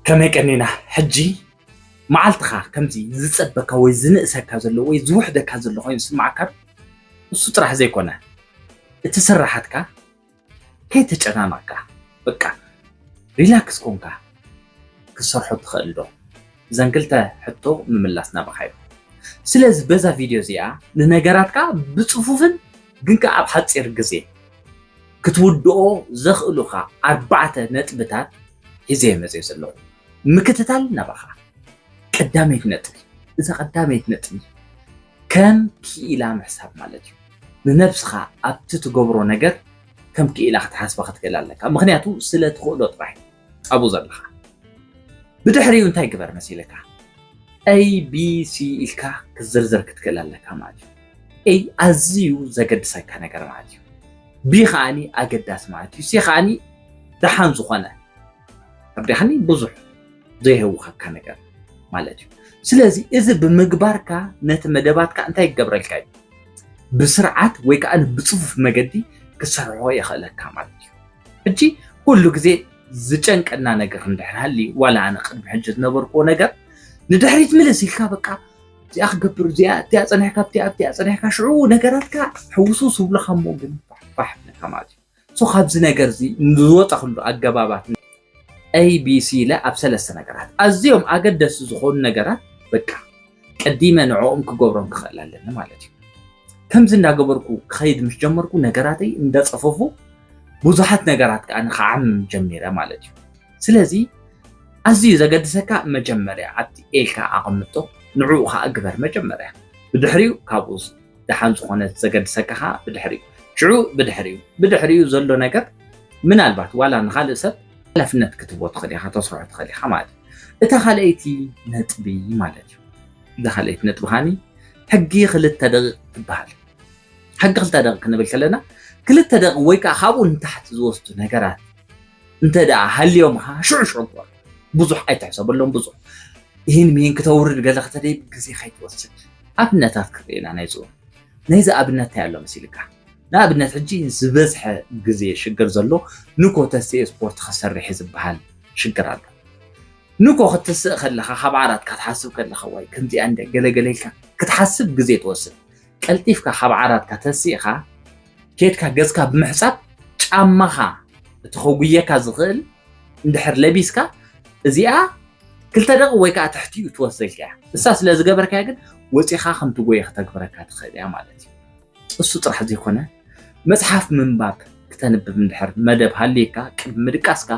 ከመይ ቀኒና ሕጂ መዓልትኻ ከምዚ ዝጸበካ ወይ ዝንእሰካ ዘሎ ወይ ዝውሕደካ ዘሎ ኮይኑ ስምዓካ እሱ ጥራሕ ዘይኮነ እቲ ስራሓትካ ከይተጨናነቕካ በቃ ሪላክስ ኮንካ ክትሰርሖ ትኽእል ዶ? እዘን ክልተ ሕቶ ምምላስ ናባኻዩ። ስለዚ በዛ ቪድዮ እዚኣ ንነገራትካ ብጽፉፍን ግን ከኣ ኣብ ሓጺር ግዜ ክትውድኦ ዘኽእሉኻ ኣርባዕተ ነጥብታት ሒዘዮ መጺኤ ዘለኹ። ምክትታል ናባኻ። ቀዳመይቲ ነጥቢ፣ እዛ ቀዳመይቲ ነጥቢ ከም ክኢላ ምሕሳብ ማለት እዩ። ንነብስኻ ኣብቲ ትገብሮ ነገር ከም ክኢላ ክትሓስባ ክትክእል ኣለካ። ምኽንያቱ ስለ ትኽእሎ ጥራሕ እዩ። ጻቡ ዘለኻ ብድሕሪኡ እንታይ ግበር መሲልካ ኤቢሲ ኢልካ ክትዝርዝር ክትክእል ኣለካ ማለት እዩ ኤይ ኣዝዩ ዘገድሰካ ነገር ማለት እዩ ቢ ከዓኒ ኣገዳሲ ማለት እዩ ሲ ከዓኒ ደሓን ዝኾነ ተርዲኻኒ ብዙሕ ዘይህውኸካ ነገር ማለት እዩ ስለዚ እዚ ብምግባርካ ነቲ መደባትካ እንታይ ይገብረልካ እዩ ብስርዓት ወይ ከዓ ብፅፉፍ መገዲ ክሰርሖ የኽእለካ ማለት እዩ ሕጂ ኩሉ ግዜ ዝጨንቀና ነገር እንድሕር ሃልዩ ዋላ ኣነ ቅድሚ ሕጂ ዝነበርክዎ ነገር ንድሕሪት ምልስ ኢልካ በቃ እዚኣ ክገብር እዚኣ እቲኣ ፀኒሕካ እቲኣ እቲኣ ፀኒሕካ ሽዑ ነገራትካ ሕውሱ ዝብሉካ እሞ ግን ፋሕፋሕ ብልካ ማለት እዩ ሶ ካብዚ ነገር እዚ ዝወፀክሉ ኣገባባት ABC ኢለ ኣብ ሰለስተ ነገራት ኣዝዮም ኣገደስቲ ዝኾኑ ነገራት በቃ ቀዲመ ንዕኦም ክገብሮም ክኽእል ኣለኒ ማለት እዩ። ከምዚ እንዳገበርኩ ክኸይድ ምስ ጀመርኩ ነገራተይ እንዳጸፈፉ ብዙሓት ነገራት ከዓ ንክዓምም ጀሚረ ማለት እዩ። ስለዚ ኣዝዩ ዘገድሰካ መጀመርያ ኣብቲ ኤልካ ኣቐምጦ ንዕኡ ከዓ ግበር መጀመርያ ብድሕሪኡ ካብኡ ደሓን ዝኾነት ዘገድሰካ ከዓ ብድሕሪኡ ሽዑ ብድሕሪኡ ብድሕሪኡ ዘሎ ነገር ምናልባት ዋላ ንካልእ ሰብ ሓላፍነት ክትቦ ትኽእል ኢኻ ተስርሖ ትኽእል ኢኻ ማለት እዩ እታ ካልኣይቲ ነጥቢ ማለት እዩ እዛ ካልኣይቲ ነጥቢ ካኒ ሕጊ ክልተ ደቂቕ ትበሃል ሕጊ ክልተ ደቂቕ ክንብል ከለና ክልተ ደቂቕ ወይ ከዓ ካብኡ ንታሕቲ ዝወስዱ ነገራት እንተ ደኣ ሃልዮም ኸዓ ሽዑ ሽዑ ግበሮ ብዙሕ ኣይትሕሰበሎም ብዙሕ ይህን ምሂን ክተውርድ ገለ ክተደይብ ግዜ ከይትወስድ ኣብነታት ክንርኢ ኢና ናይዚ እውን ናይዚ ኣብነት እንታይ ኣሎ መሲልካ ንኣብነት ሕጂ ዝበዝሐ ግዜ ሽግር ዘሎ ንኮ ተስኤ ስፖርት ክሰርሕ ዝበሃል ሽግር ኣሎ ንኮ ክትስእ ከለኻ ካብ ዓራትካ ትሓስብ ከለኻ ዋይ ከምዚኣ እንደ ገለገለ ኢልካ ክትሓስብ ግዜ ትወስድ ቀልጢፍካ ካብ ዓራትካ ተሲእኻ ኬድካ ገጽካ ብምሕጻብ ጫማኻ እቲ ከጉየካ ዝኽእል እንድሕር ለቢስካ እዚኣ ክልተ ደቂ ወይ ከዓ ትሕቲኡ ትወስደልካ እያ እሳ ስለ ዝገበርካያ ግን ወፂኻ ከም ትጎየ ክተግብረካ ትኽእል እያ ማለት እዩ እሱ ጥራሕ ዘይኮነ መፅሓፍ ምንባብ ክተንብብ እንድሕር መደብ ሃልየካ ቅድሚ ምድቃስካ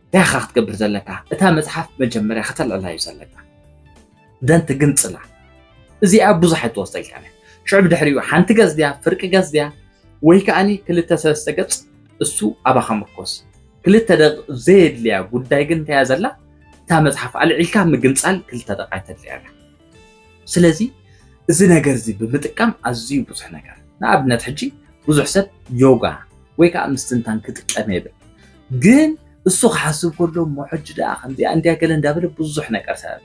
እንታይ ኢኻ ክትገብር ዘለካ እታ መፅሓፍ መጀመርያ ከተልዕላ እዩ ዘለካ ደንት ግምጽላ እዚኣ ብዙሕ ኣይትወስደልካን እያ ሽዑ ብድሕሪኡ ሓንቲ ገጽ ድያ ፍርቂ ገጽ ድያ ወይ ከዓኒ ክልተ ሰለስተ ገጽ እሱ ኣባኻ ምርኮስ ክልተ ደቂ ዘየድልያ ጉዳይ ግን እንታያ ዘላ እታ መጽሓፍ ኣልዒልካ ምግንጻል ክልተ ደቂ ኣይተድልያ እያ ስለዚ እዚ ነገር እዚ ብምጥቃም ኣዝዩ ብዙሕ ነገር ንኣብነት ሕጂ ብዙሕ ሰብ ዮጋ ወይ ከዓ ምስትንታን ክጥቀም የብል ግን እሱ ክሓስብ ከሎ እሞ ሕጂ ደኣ ከምዚኣ እንድያ ገለ እንዳበለ ብዙሕ ነገር ሰብ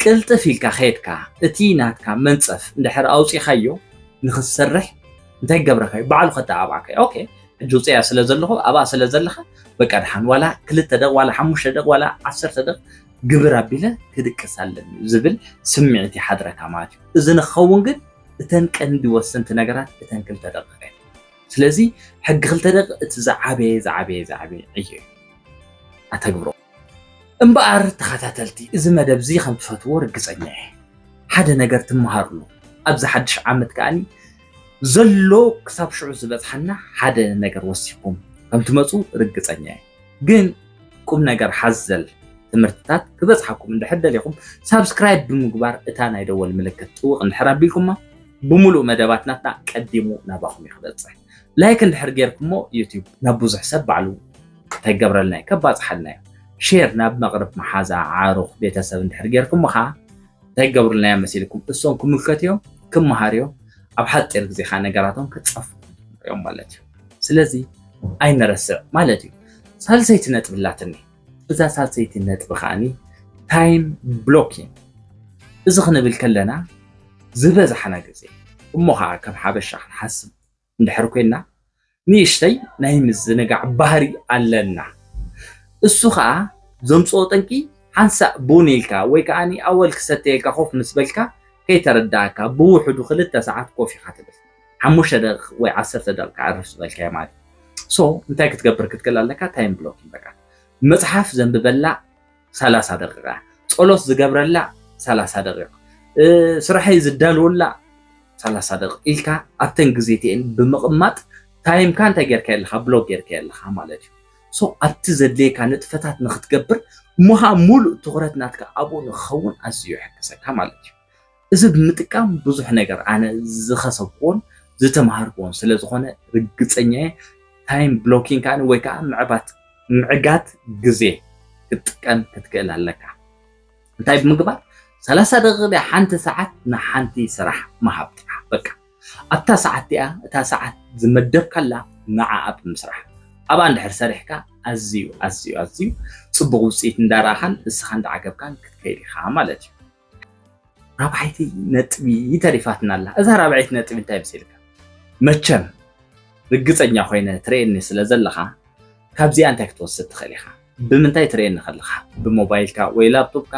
ቅልጥፍ ኢልካ ከድካ እቲ ናትካ መንፀፍ እንድሕር ኣውፂኻዮ ንክትሰርሕ እንታይ ገብረካዩ ባዕሉ ከተኣባዕካዩ ኦኬ ሕጂ ውፅያ ስለ ዘለኹ ኣብኣ ስለ ዘለኻ በቃ ድሓን ዋላ ክልተ ደቕ ዋላ ሓሙሽተ ደቕ ዋላ ዓሰርተ ደቕ ግብር ኣቢለ ክድቅስ ኣለኒ ዝብል ስምዒት ይሓድረካ ማለት እዩ እዚ ንክኸውን ግን እተን ቀንዲ ወሰንቲ ነገራት እተን ክልተ ደቕቀ ስለዚ ሕጊ ክልተ ደቂ እቲ ዝዓበየ ዝዓበየ ዝዓበየ ዕዮ እዩ ኣተግብሮ እምበኣር ተኸታተልቲ እዚ መደብ እዚ ከም ትፈትዎ ርግፀኛ እየ ሓደ ነገር ትመሃርሉ ኣብዚ ሓድሽ ዓመት ከዓኒ ዘሎ ክሳብ ሽዑ ዝበፅሓና ሓደ ነገር ወሲኩም ከም ትመፁ ርግፀኛ እየ ግን ቁም ነገር ሓዘል ትምህርትታት ክበጽሓኩም እንድሕር ደሊኹም ሳብስክራይብ ብምግባር እታ ናይ ደወል ምልክት ጥውቕ እንድሕር ኣቢልኩማ ብምሉእ መደባት ናትና ቀዲሙ ናባኹም እዩ ክበጽሕ ላይክ እንድሕር ጌርኩሞ ዩቲዩብ ናብ ብዙሕ ሰብ ባዕሉ ከይገብረልና እዩ ከባጽሓልና እዩ ሼር ናብ መቕርብ መሓዛ ዓሩኽ ቤተሰብ እንድሕር ጌርኩሞ ከዓ ከይገብሩልና እዮም መሲልኩም እሶም ክምልከት እዮም ክመሃር እዮም ኣብ ሓፂር ግዜ ከዓ ነገራቶም ክፀፉ እዮም ማለት እዩ ስለዚ ኣይንረስዕ ማለት እዩ ሳልሰይቲ ነጥቢ ኣላትኒ እዛ ሳልሰይቲ ነጥቢ ከዓኒ ታይም ብሎኪን እዚ ክንብል ከለና ዝበዝሓና ግዜ እሞ ከዓ ከም ሓበሻ ክንሓስብ እንድሕር ኮይና ንእሽተይ ናይ ምዝንጋዕ ባህሪ ኣለና እሱ ከዓ ዘምፅኦ ጠንቂ ሓንሳእ ቡን ኢልካ ወይ ከዓ ኣወል ክሰተየልካ ኮፍ ምስ በልካ ከይተረዳእካ ብውሕዱ ክልተ ሰዓት ኮፍ ኢኻ ትብል ሓሙሽተ ደቂቅ ወይ ዓሰርተ ደቂቅ ክዓርፍ ዝበልካዮ ማለት እዩ ሶ እንታይ ክትገብር ክትክእል ኣለካ ታይም ብሎኪንግ በቃ መፅሓፍ ዘንብበላ ሰላሳ ደቂቃ ፀሎት ዝገብረላ ሰላሳ ደቂቅ ስራሐይ ዝዳልወላ ሰላሳ ደቂቅ ኢልካ ኣብተን ግዜትኤን ብምቕማጥ ታይምካ እንታይ ጌርካ ኣለካ ብሎክ ጌርካ ኣለካ ማለት እዩ ሶ ኣብቲ ዘድልየካ ንጥፈታት ንክትገብር እሞ ከዓ ሙሉእ ትኩረት ናትካ ኣብኡ ንክኸውን ኣዝዩ ይሕግዘካ ማለት እዩ እዚ ብምጥቃም ብዙሕ ነገር ኣነ ዝኸሰብክዎን ዝተምሃርክዎን ስለ ዝኾነ ርግፀኛ እየ። ታይም ብሎኪንግ ከዓኒ ወይ ከዓ ምዕባት ምዕጋት ግዜ ክትጥቀም ክትክእል ኣለካ። እንታይ ብምግባር ሰላሳ ደቂቕ ድያ ሓንቲ ሰዓት ንሓንቲ ስራሕ ምሃብ ጥራሕ በቃ ኣብታ ሰዓት እቲኣ እታ ሰዓት ዝመደብካላ ንዓኣ ብምስራሕ ኣብኣ እንድሕር ሰሪሕካ ኣዝዩ ኣዝዩ ኣዝዩ ፅቡቕ ውፅኢት እንዳረኣኻን ንስኻ እንዳዓገብካን ክትከይድ ኢኻ ማለት እዩ። ራብዓይቲ ነጥቢ ተሪፋትና ኣላ። እዛ ራብዐይቲ ነጥቢ እንታይ መሲልካ መቸም ርግፀኛ ኮይነ ትርእየኒ ስለ ዘለኻ ካብዚኣ እንታይ ክትወስድ ትኽእል ኢኻ? ብምንታይ ትርእየኒ ከለኻ ብሞባይልካ ወይ ላፕቶፕካ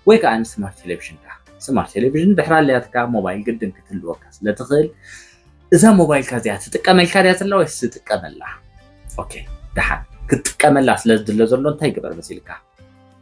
ወይ ከዓ ንስማርት ቴሌቪዥንካ ስማርት ቴሌቪዥን ድሕሪ ኣልያትካ ሞባይል ግድን ክትህልወካ ስለ ትኽእል እዛ ሞባይልካ እዚኣ ትጥቀመልካ ድያ ዘላ ወይስ ትጥቀመላ? ኦኬ ደሓን ክትጥቀመላ ስለ ዝድለ ዘሎ እንታይ ግበር መሲልካ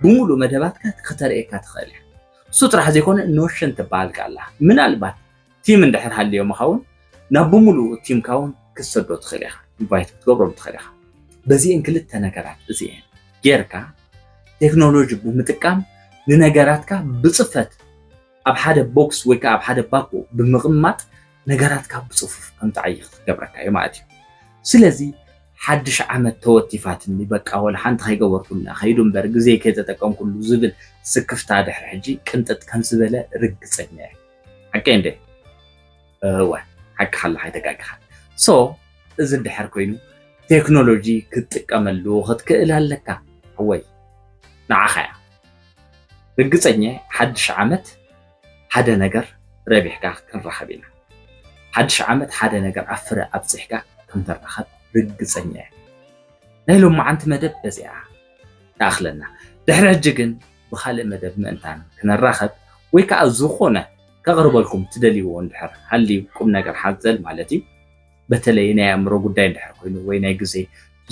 ብምሉእ መደባትካ ክተርእየካ ትኽእል እያ። እሱ ጥራሕ ዘይኮነ ኖሽን ትበሃል ቃል ኣላ። ምናልባት ቲም እንድሕር ሃልዮምኻ እውን ናብ ብምሉኡ ቲምካ እውን ክትሰዶ ትኽእል ኢኻ፣ ኢንቫይት ክትገብሮም ትኽእል ኢኻ። በዚኤን ክልተ ነገራት እዚኤን ጌርካ ቴክኖሎጂ ብምጥቃም ንነገራትካ ብፅፈት ኣብ ሓደ ቦክስ ወይ ከዓ ኣብ ሓደ ባኮ ብምቕማጥ ነገራትካ ብፅፉፍ ከም ትዓይኽ ክገብረካ እዩ ማለት እዩ። ስለዚ ሓድሽ ዓመት ተወቲፋትኒ በቃ ወላ ሓንቲ ከይገበርኩላ ከይዱ እምበር ግዜ ከይተጠቀምኩሉ ዝብል ስክፍታ ድሕሪ ሕጂ ቅንጥጥ ከም ዝበለ ርግፀኛ እየ። ሓቀይ እንዴ? እወ ሓቂ ሓላ ከይተጋገኻ ሶ እዚ እንድሕር ኮይኑ ቴክኖሎጂ ክትጥቀመሉ ክትክእል ኣለካ ሓወይ ንዓኻ እያ። ርግጸኛየ ሓድሽ ዓመት ሓደ ነገር ረቢሕካ ክንራከብ ኢና ሓድሽ ዓመት ሓደ ነገር ኣብ ፍረ ኣብጺሕካ ክንራከብ ርግጸኛየ ናይ ሎማዓንቲ መደብ በዚኣ ትኣክለና ድሕሪ ሕጂ ግን ብካልእ መደብ ምእንታን ክንራከብ ወይ ከዓ ዝኮነ ከቅርበልኩም ትደልይዎ እንድሕር ሃልዩ ቁም ነገር ሓዘል ማለት እዩ በተለይ ናይ ኣእምሮ ጉዳይ እንድሕር ኮይኑ ወይ ናይ ግዜ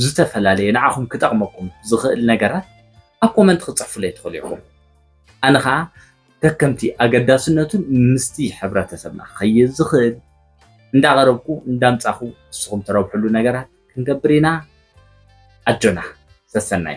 ዝተፈላለየ ንዓኹም ክጠቅመኩም ዝኽእል ነገራት ኣብ ኮመንት ክትጽሕፉለይ ትኽእሉ ኢኹም። ኣነ ከኣ ከከምቲ ኣገዳስነቱን ምስቲ ሕብረተሰብና ክኸይድ ዝኽእል እንዳቐረብኩ እንዳምጻኹ ንስኹም ትረብሕሉ ነገራት ክንገብር ኢና። ኣጆና! ሰሰናዩ!